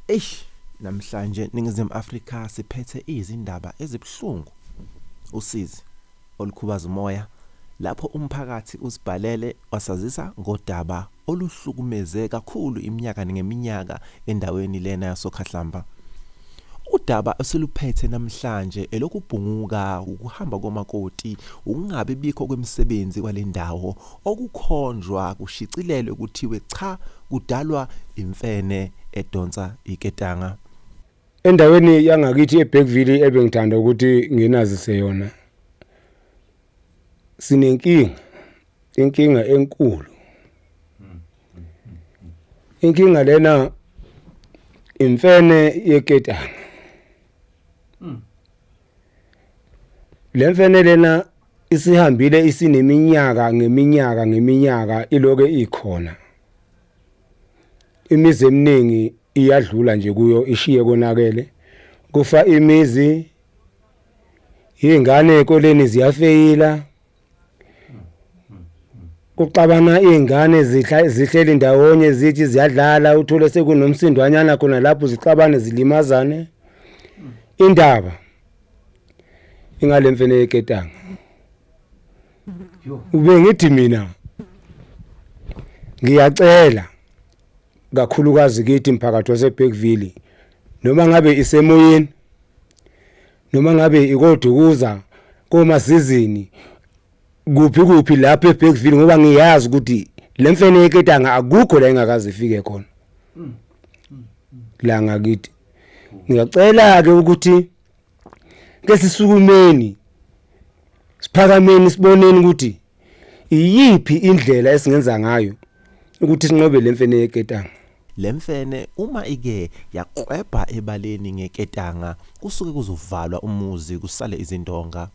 Eish namhlanje ningizimu Afrika siphethe izindaba ezibuhlungu. Usizi olukhubaza umoya lapho umphakathi usibhalele wasazisa ngodaba oluhlukumeze kakhulu iminyaka ngeminyaka endaweni lena yasokhahlamba. Udaba esiluphethe namhlanje elokubhunguka ukuhamba komakoti ukungabi bikho kwemisebenzi kwalendawo okukhonjwa kushicilelwe kuthiwe cha kudalwa imfene edonsa iketanga. Endaweni yangakithi eBergville ebengithanda ukuthi nginazise yona sinenkinga inkinga enkulu inkinga lena imfene yeketanga Le mfene lena isihambile isineminyaka ngeminyaka ngeminyaka iloke ikhona imizi eminingi iyadlula nje kuyo ishiye konakele kufa imizi izingane ekoleni ziyafeyila kuxabana iy'ngane zihla- zihleli ndawonye zithi ziyadlala uthole sekunomsindwanyana khona lapho zixabane zilimazane indaba ingale mfene yeketanga ube ngithi mina ngiyacela kakhulukazi kithi mphakathi waseBergville noma ngabe isemoyeni noma ngabe ikodukuza komasizini kuphi kuphi lapho eBergville ngoba ngiyazi ukuthi le mfene yeketanga akukho la engakaze ifike khona la ngakithi ngiyacela ke ukuthi ke sisukumeni siphakameni siboneni ukuthi iyiphi indlela esingenza ngayo ukuthi sinqobe le mfene yeketanga Le mfene uma ike yaklwebha ebaleni ngeketanga kusuke kuzovalwa umuzi kusale izindonga.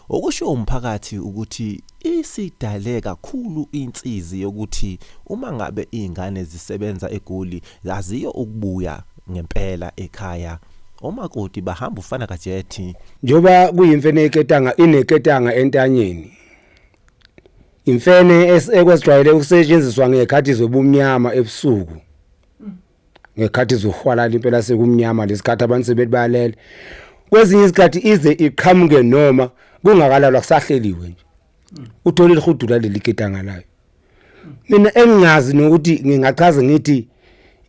Okushiwo umphakathi ukuthi isidale kakhulu insizi yokuthi uma ngabe izingane zisebenza eGoli zaziyo ukubuya ngempela ekhaya. Omakoti bahamba ufana kajethi. Njengoba kuyimfene yeketanga ineketanga entanyeni, Imfene es- ekwesijwayele ukusetshenziswa ngekhathi zobumnyama ebusuku. Ngekhathi zohwalala impela sekumnyama lesikhathi abantu sebethi bayalele. Kwezinye izikhathi ize iqhamuke noma kungakalalwa kusahleliwe nje. Uthole lihudula leli ketanga layo. Mina engingazi nokuthi ngingachaza ngithi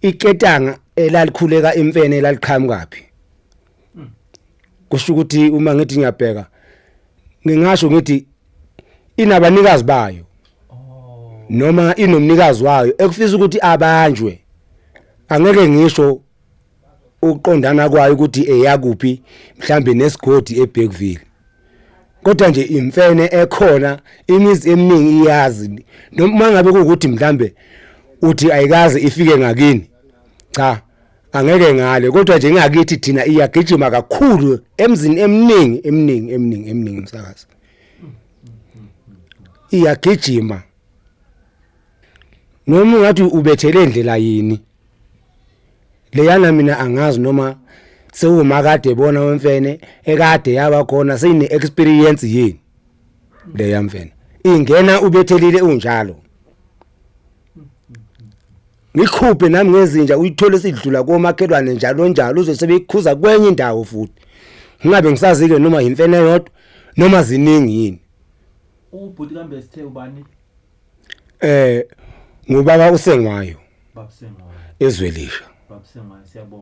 iketanga elalikhuleka imfene laliqhamuka phi. kusho ukuthi uma ngithi ngiyabheka ngingasho ngithi inabanikazi bayo noma inomnikazi wayo ekufisa ukuthi abanjwe angeke ngisho ukuqondana kwayo ukuthi eyakuphi mhlambe nesigodi eBergville kodwa nje imfene ekhona imizi eminingi iyazi noma ngabe ukuthi mhlambe uthi ayikaze ifike ngakini cha angeke ngale kodwa nje ngakithi thina iyagijima kakhulu emzini eminingi eminingi eminingi eminingi msakazi iyagijima noma ungathi ubethele indlela yini leyana mina angazi noma sewumakade bona wemfene ekade yaba khona seyine experience yini leya mfene ingena ubethelile unjalo ngikhuphe nami ngezinja uyithole sidlula komakhelwane njalo njalo uzosebekhuza kwenye indawo futhi ngingabe ngisazike noma yimfene yodwa noma ziningi yini ubhuti kambe sithe ubani eh ngubaba usengwayo babusengwayo ezwelisha babusengwayo siyabonga